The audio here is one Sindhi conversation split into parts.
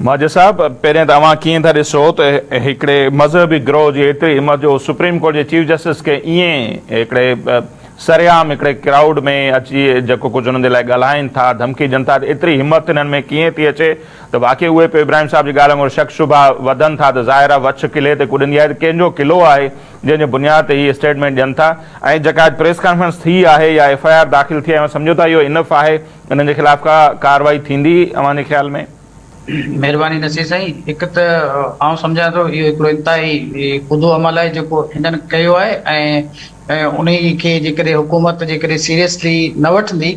ماجد صاحب پهرين ته اوهان ڪيئن ٿا ڏسو ته هڪڙي مذهبي گروهه جي ايتري همت جو سپريم ڪورٽ جي چيف جسٽس کي ايئن هڪڙي سرعام هڪڙي ڪرائوڊ ۾ اچي جيڪو ڪجهه انهن جي لاء ڳالهائين ٿا ڌمڪي ڏين ٿا ته ايتري همت هنن ۾ ڪيئن ٿي اچي ته واقعي اهي پيو ابراهيم صاحب جي ڳالهه وانگر شڪ شبها وڌن ٿا ته ظاهر آهي وڇ قلعي تي ڪڏندي آهي ته ڪنهن جو قلعو آهي جنهن جي بنياد تي هي اسٽيٽمينٽ ڏين ٿا ۽ جيڪا اڄ پريس ڪانفرنس ٿي آهي يا ايف آء آر داخل ٿي آهي اوهان سمجهو ٿا اهو انف آهي انهن جي خلاف ڪا ڪارروائي ٿيندي اوهان جي خيال ۾؟ مهرباني نصير سائين هڪ ته آئون سمجهان ٿو اهو هڪڙو انتهائي ڪوڌو عمل آهي جيڪو هنن ڪيو آهي ۽ انهي کي جيڪڏهن حڪومت جيڪڏهن سيريسلي نه وٺندي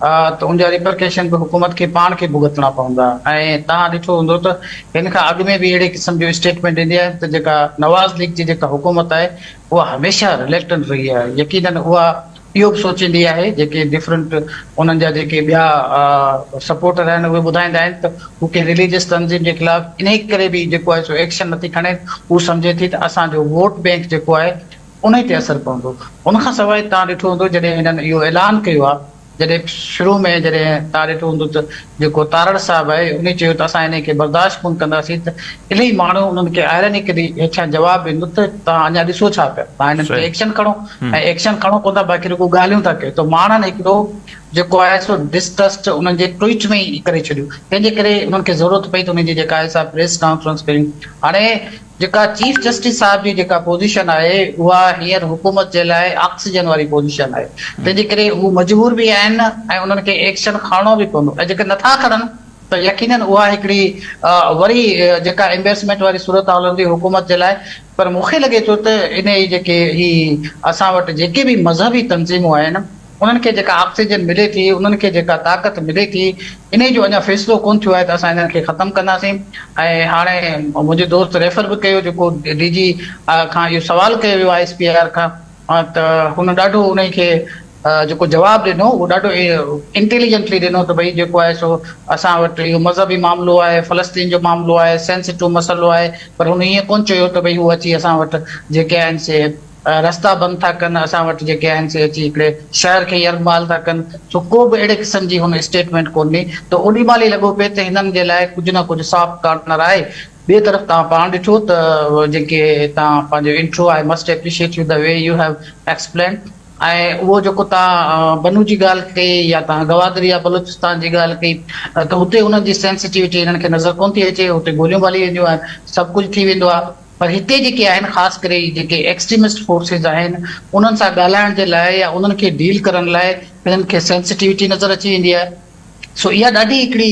ته ان جا ريپرڪيشن به حڪومت کي پاڻ کي ڀوڳتڻا پوندا ۽ توهان ڏٺو هوندو ته هن کان اڳ ۾ به اهڙي قسم جون اسٽيٽمينٽ ايندي آهن ته جيڪا نواز ليگ جي جيڪا حڪومت آهي اها هميشه رليڪٽنٽ رهي آهي يقينن اها اهو به سوچيندي آهي جيڪي ڊفرنٽ انهن جا جيڪي ٻيا سپورٽر آهن اهي ٻڌائيندا آهن ته هو ڪنهن رليجس تنظيم جي خلاف انهي ڪري به جيڪو آهي سو ايڪشن نٿي کڻي هو سمجهي ٿي ته اسان جو ووٽ بينڪ جيڪو آهي انهي تي اثر پوندو ان کان سواء توهان ڏٺو هوندو جڏهن هنن اهو اعلان ڪيو آهي جڏهن شروع ۾ جڏهن توهان ڏٺو هوندو ته جيڪو تارڙ صاحب آهي انهي چيو ته اسان انهي کي برداشت ڪونه ڪنداسين ته انهي ماڻهو انهن کي آئرانيڪلي هيٺيان جواب به نه ته توهان اڃا ڏسو ڇا پيا توهان انهن تي ايڪشن کڻو ۽ ايڪشن کڻو ڪونه ٿا باقي رڳو ڳالهيون ٿا ڪيو ته ماڻهن هڪڙو جيڪو آهي سو ڊسٽرسٽ انهن جي ٽوئيٽ ۾ ئي ڪري ڇڏيو تنهن جي ڪري انهن کي ضرورت پئي ته انهي جي جيڪا آهي سا پريس ڪانفرنس ڪريون هاڻي جيڪا چيف جسٽس صاحب جي جيڪا پوزيشن آهي اها هينئر حڪومت جي لاء آڪسيجن واري پوزيشن آهي تنهن جي ڪري هو مجبور به آهن ۽ انهن کي ايڪشن کڻڻو به پوندو ۽ جيڪي نٿا کڻن ته يقينن اها هڪڙي وري جيڪا امبيرسمينٽ واري صورتحال هوندي حڪومت جي لاء پر مون کي لڳي ٿو ته انهي جيڪي هي اسان وٽ جيڪي به مذهبي تنظيمون آهن انهن کي جيڪا آڪسيجن ملي ٿي، انهن کي جيڪا طاقت ملي ٿي، انهي جو اڃا فيصلو ڪونه ٿيو آهي ته اسان انهن کي ختم ڪنداسين ۽ هاڻي منهنجي دوست ريفر به ڪيو جيڪو ڊي جي کان اهو سوال ڪيو ويو آهي ايس پي آر کان ته هن ڏاڍو انهي کي جيڪو جواب ڏنو اهو ڏاڍو انٽيليجنٽلي ڏنو ته ڀئي جيڪو آهي سو اسان وٽ اهو مذهبي معاملو آهي، فلسطين جو معاملو آهي، سينسيٽو مسئلو آهي پر هن ايئن ڪونه چيو ته ڀئي هو اچي اسان وٽ جيڪي آهن سي رستا بند ٿا ڪن، اسان وٽ جيڪي آهن سي اچي هڪڙي شهر کي يرغمال ٿا ڪن، سو ڪو به اهڙي قسم جي هن اسٽيٽمينٽ ڪونهي ته اوڏي مهل ئي لڳو پئي ته هنن جي لاء ڪجهه نه ڪجهه سافٽ ڪارنر آهي. ٻئي طرف تان پاڻ ڏٺو ته جيڪي تان پنهنجو intro I must appreciate you the way you have explained ۽ اهو جيڪو تان بنو جي ڳالهه ڪئي يا تان گوادر يا بلوچستان جي ڳالهه ڪئي ته هتي انهن جي سينسٽيوٽي هنن کي نظر ڪونه ٿي اچي، هتي گوليون ٻاري وينديون آهن، سڀ ڪجهه ٿي ويندو آهي. پر هتي جيڪي آهن خاص ڪري هي جيڪي ايڪسٽريمسٽ فورسز آهن انهن سان ڳالهائڻ جي لاء يا انهن کي ڊيل ڪرڻ لاء هنن کي سينسٽيوٽي نظر اچي ويندي آهي سو اها ڏاڍي هڪڙي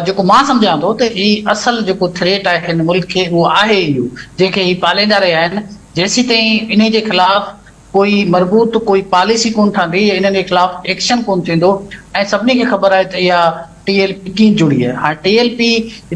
جيڪو مان سمجهان ٿو ته هي اصل جيڪو ٿريٽ آهي هن ملڪ کي اهو آهي اهو جنهن کي هي پاليندا رهيا آهن جيسيتائين انهي جي خلاف ڪوئي مربوط ڪوئي پاليسي ڪونه ٺهندي يا انهن جي خلاف ايڪشن ڪونه ٿيندو ۽ سڀني کي خبر آهي ته اها ٽي ايل پي ڪين جڙي آهي هاڻ ٽي ايل پي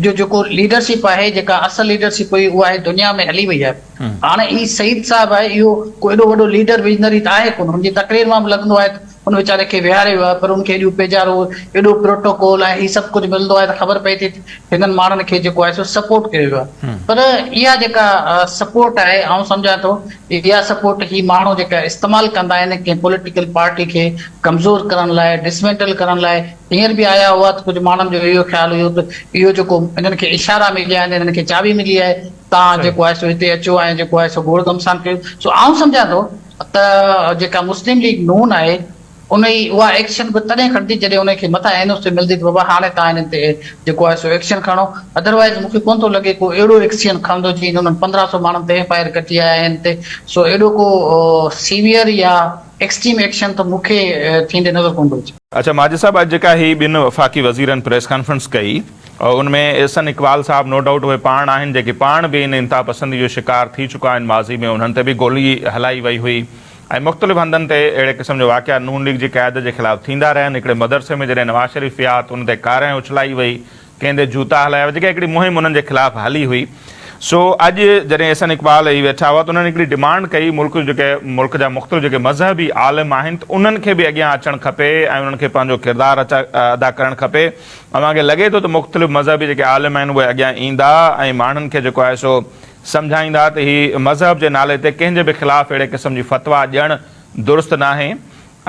جو جيڪو ليڊرشپ آهي جيڪا اصل ليڊرشپ هئي اها هي دنيا ۾ هلي وئي آهي هاڻ هي سعيد صاحب آهي اهو ڪو ايڏو وڏو ليڊر ويزنري ته آهي ڪونه هن جي تقرير مان به لڳندو آهي ته ان ويچاري کي ويهاري ويو آهي پر ان کي ايڏيون پيڄارو ايڏو پروٽوڪول ۽ هي سڀ ڪجهه ملندو آهي ته خبر پئي ٿي هنن ماڻهن کي جيڪو آهي سو سپورٽ ڪيو ويو آهي پر اها جيڪا سپورٽ آهي آئون سمجهان ٿو اها سپورٽ هي ماڻهو جيڪا استعمال ڪندا آهن ڪنهن پوليٽيڪل پارٽي کي ڪمزور ڪرڻ لاء ڊسمينٽل ڪرڻ لاء هينئر به آيا هئا ته ڪجهه ماڻهن جو اهو خيال هيو ته اهو جيڪو هنن کي اشارا مليا آهن هنن کي چاٻي ملي آهي تان جيڪو آهي سو هتي اچو ۽ جيڪو آهي سو گوڙ گهمسان ڪيو سو آئون سمجهان ٿو ته جيڪا مسلم ليگ نون آهي ان جي اها ايڪشن به تڏهن کڻندي جڏهن انهن کي مٿان اين او سي ملندي ته بابا هاڻي توهان انهن تي جيڪو آهي سو ايڪشن کڻو اڌروائيز مون کي ڪونه ٿو لڳي ڪو اهڙو ايڪسين کڻندو جيئن انهن پندرهن سو ماڻهن تي ايف آء آر ڪٽي آيا آهن تي سو اهڙو ڪو سيويئر يا ايڪسٽريم ايڪشن ته مون کي ٿيندي نظر ڪونه ٿو اچي. اڇا ماجد صاحب اڄ جيڪا هي ٻن وفاقي وزيرن پريس ڪانفرنس ڪئي ان ۾ احسن اقبال صاحب نو ڊائوٽ اهي پاڻ آهن جيڪي پاڻ به ان انتها پسندي جو شڪار ٿي چڪا آهن ماضي ۾ انهن تي به گولي هلائي وئي هئي ۽ مختلف هنڌن تي اهڙي قسم جا واقعا نون ليگ جي قيادت جي خلاف ٿيندا رهيا آهن هڪڙي مدرسي ۾ جڏهن نواز شريف ويا ته ان تي ڪارنهن اڇلائي وئي ڪنهن تي جوتا هلايا هئا، جيڪا هڪڙي مهم انهن جي خلاف هلي هئي، سو اڄ جڏهن احسن اقبال اهي ويٺا هئا ته انهن هڪڙي ڊمانڊ ڪئي ملڪ جو جيڪي ملڪ جا مختلف جيڪي مذهبي عالم آهن ته انهن کي به اڳيان اچڻ کپي ۽ انهن کي پنهنجو ڪردار ادا ڪرڻ کپي، اوهان کي لڳي ٿو ته مختلف مذهبي جيڪي عالم آهن اهي اڳيان ايندا ۽ ماڻهن کي جيڪو آهي سو سمجهائيندا ته هي مذهب جي نالي تي ڪنهن جي به خلاف اهڙي قسم جي فتويٰ ڏيڻ درست ناهي،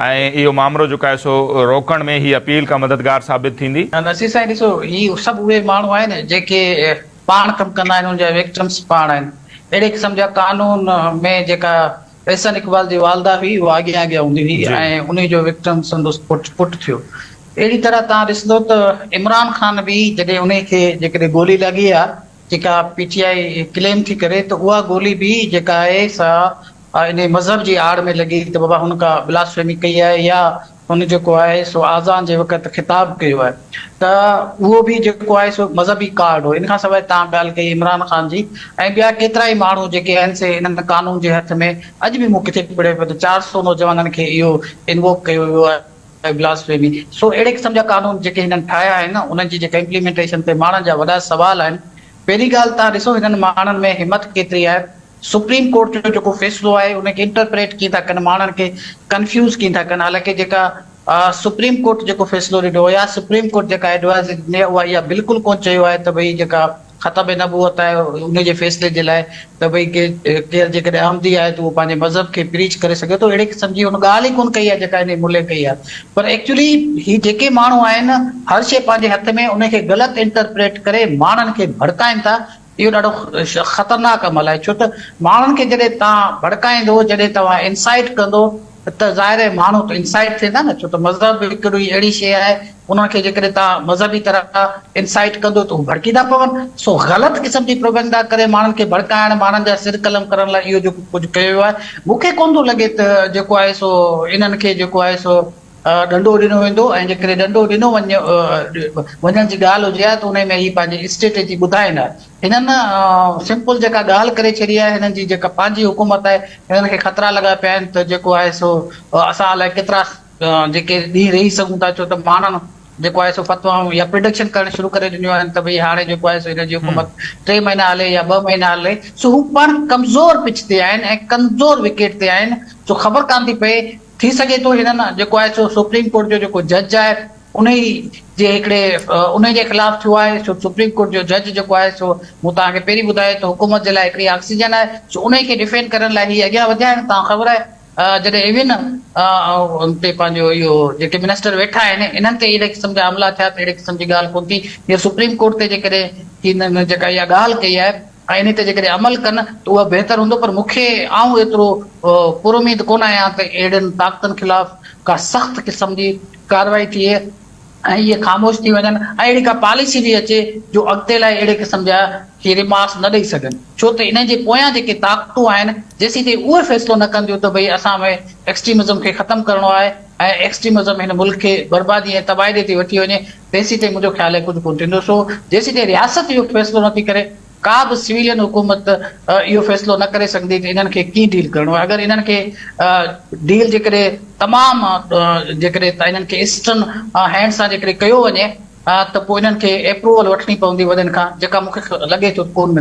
۽ اهو مامرو جيڪو آهي سو روڪڻ ۾ هي اپيل ڪا مددگار ثابت ٿيندي؟ نصير سائين ڏسو هي سڀ اهي ماڻهو آهن جيڪي پاڻ ڪم ڪندا آهن ان جا ويڪٽمس پاڻ آهن اهڙي قسم جا قانون ۾ جيڪا احسن اقبال جي والده هئي اها اڳيان اڳيان هوندي هئي ۽ انهي جو ويڪٽم سندس پٽ پٽ ٿيو اهڙي طرح تان ڏسندو ته عمران خان به جڏهن انهي کي جيڪڏهن گولي لڳي آ جيڪا پي ٽي آء ڪليم ٿي ڪري ته اها گولي به جيڪا آهي سا آء انهيء مذهب جي آڙ ۾ لڳي ته بابا هن ڪا بلاسفيمي ڪئي آهي يا هن جيڪو آهي سو آذان جي وقت خطاب ڪيو آهي ته اهو به جيڪو آهي سو مذهبي ڪارڊ هو ان کان سواء توهان ڳالهه ڪئي عمران خان جي ۽ ٻيا ڪيترائي ماڻهو جيڪي آهن سي انهن قانون جي هٿ ۾ اڄ به مون ڪٿي پڙهيو پيو ته چار سؤ نوجوانن کي اهو انووڪ ڪيو ويو آهي بلاسفيمي سو اهڙي قسم جا قانون جيڪي هنن ٺاهيا آهن انهن جي جيڪا امپليمينٽيشن تي ماڻهن جا وڏا سوال آهن پهرين ڳالهه توهان ڏسو هنن ماڻهن ۾ همت ڪيتري آهي سپريم ڪورٽ جو جيڪو فيصلو آهي ان کي انٽرپريٽ ڪين ٿا ڪن ماڻهن کي ڪنفيوز ڪين ٿا ڪن حالانڪه جيڪا سپريم ڪورٽ جيڪو فيصلو ڏنو هو يا سپريم ڪورٽ جيڪا ايڊوائزري ڏني اها اها بلڪل ڪون چيو آهي ته ڀئي جيڪا ختم نبوت آهي ان جي فيصلي جي لاء ته ڀئي ڪي ڪير جيڪڏهن احمدي آهي ته اهو پنهنجي مذهب کي پريچ ڪري سگهي ٿو اهڙي قسم جي هن ڳالهه ئي ڪون ڪئي آهي جيڪا هن ملهي ڪئي آهي پر ايڪچولي هي جيڪي ماڻهو آهن هر شيء پنهنجي هٿ ۾ ان کي غلط انٽرپريٽ ڪري ماڻهن کي ڀڙڪائين ٿا اهو ڏاڍو خطرناڪ عمل آهي ڇو ته ماڻهن کي جڏهن توهان ڀڙڪائيندو، جڏهن توهان انسائيٽ ڪندو ته ظاهر آهي ماڻهو ته انسائيٽ ٿيندا نه ڇو ته مذهب هڪڙي اهڙي شيء آهي انهن کي جيڪڏهن توهان مذهبي طرح انسائيٽ ڪندو ته هو ڀڙڪيندا پون سو غلط قسم جي پروپيگنڊا ڪري ماڻهن کي ڀڙڪائڻ ماڻهن جا سر قلم ڪرڻ لاء اهو جيڪو ڪجهه ڪيو ويو آهي مون کي ڪونه ٿو لڳي ته جيڪو آهي سو انهن کي جيڪو آهي سو ڏنڊو ڏنو ويندو ۽ جيڪڏهن ڏنڊو ڏنو وڃڻ جي ڳالهه هجي ها ته انهي ۾ هي پنهنجي اسٽريٽجي ٻڌائين ها. هنن سمپل جيڪا ڳالهه ڪري ڇڏي آهي، هنن جي جيڪا پنهنجي حڪومت آهي، هنن کي خطرا لڳا پيا آهن ته جيڪو آهي سو اسان الائي ڪيترا جيڪي ڏينهن رهي سگهون ٿا ڇو ته ماڻهن جيڪو آهي سو فتوائون يا پرڊڪشن ڪرڻ شروع ڪري ڏنيون آهن ته ڀئي هاڻي جيڪو آهي سو هنن جي حڪومت ٽي مهينا هلي يا ٻه مهينا هلي سو هو پڻ ڪمزور پچ تي آهن ۽ ڪمزور وڪيٽ تي آهن سو خبر ڪانه ٿي پئي ٿي سگهي ٿو هنن جيڪو آهي سو سپريم ڪورٽ جو جيڪو جج آهي انهي جي هڪڙي انهي جي خلاف ٿيو آهي سو سپريم ڪورٽ جو جج جيڪو آهي سو مون توهان کي پهرين ٻڌايو ته حڪومت جي لاء هڪڙي آڪسيجن آهي سو انهي کي ڊفينڊ ڪرڻ لاء هي اڳيان وڌيا آهن توهان کي خبر آهي جڏهن ايون ان تي پنهنجو اهو جيڪي منسٽر ويٺا آهن انهن تي اهڙي قسم جا حملا ٿيا ته اهڙي قسم جي ڳالهه ڪونه ٿي هيء سپريم ڪورٽ تي جيڪڏهن هنن جيڪا اها ڳالهه ڪئي آهي ۽ انهيء تي جيڪڏهن عمل ڪن ته اهو بهتر هوندو، پر مون کي آئون ايترو پراميد ڪونه آهيان ته اهڙين طاقتن خلاف ڪا سخت قسم جي ڪارروائي ٿئي ۽ اهي خاموش ٿي وڃن ۽ اهڙي ڪا پاليسي به اچي جو اڳتي لاء اهڙي قسم جا ڪي ريمارڪس نه ڏئي سگهن، ڇو ته انهن جي پويان جيڪي طاقتون آهن، جيسين تائين اهي فيصلو نه ڪنديون ته ڀئي اسان ۾ ايڪسٽريمزم کي ختم ڪرڻو آهي ۽ ايڪسٽريمزم هن ملڪ کي بربادي ۽ تباهي ڏي ٿي وٺي وڃي، تيسيتائين منهنجو خيال اهي ڪجهه ڪونه ٿيندو سو جيسيتائين رياست اهو فيصلو نه ٿي ڪري ڪا به سويلين حڪومت اهو فيصلو نه ڪري سگهندي ته انهن کي ڪيئن ڊيل ڪرڻو آهي اگر انهن کي ڊيل جيڪڏهن تمام جيڪڏهن ته انهن کي اسٽرن هينڊ سان جيڪڏهن ڪيو وڃي ته پوء انهن کي ايپروول وٺڻي پوندي وڏن کان جيڪا مون کي لڳي ٿو ڪونه ملندي.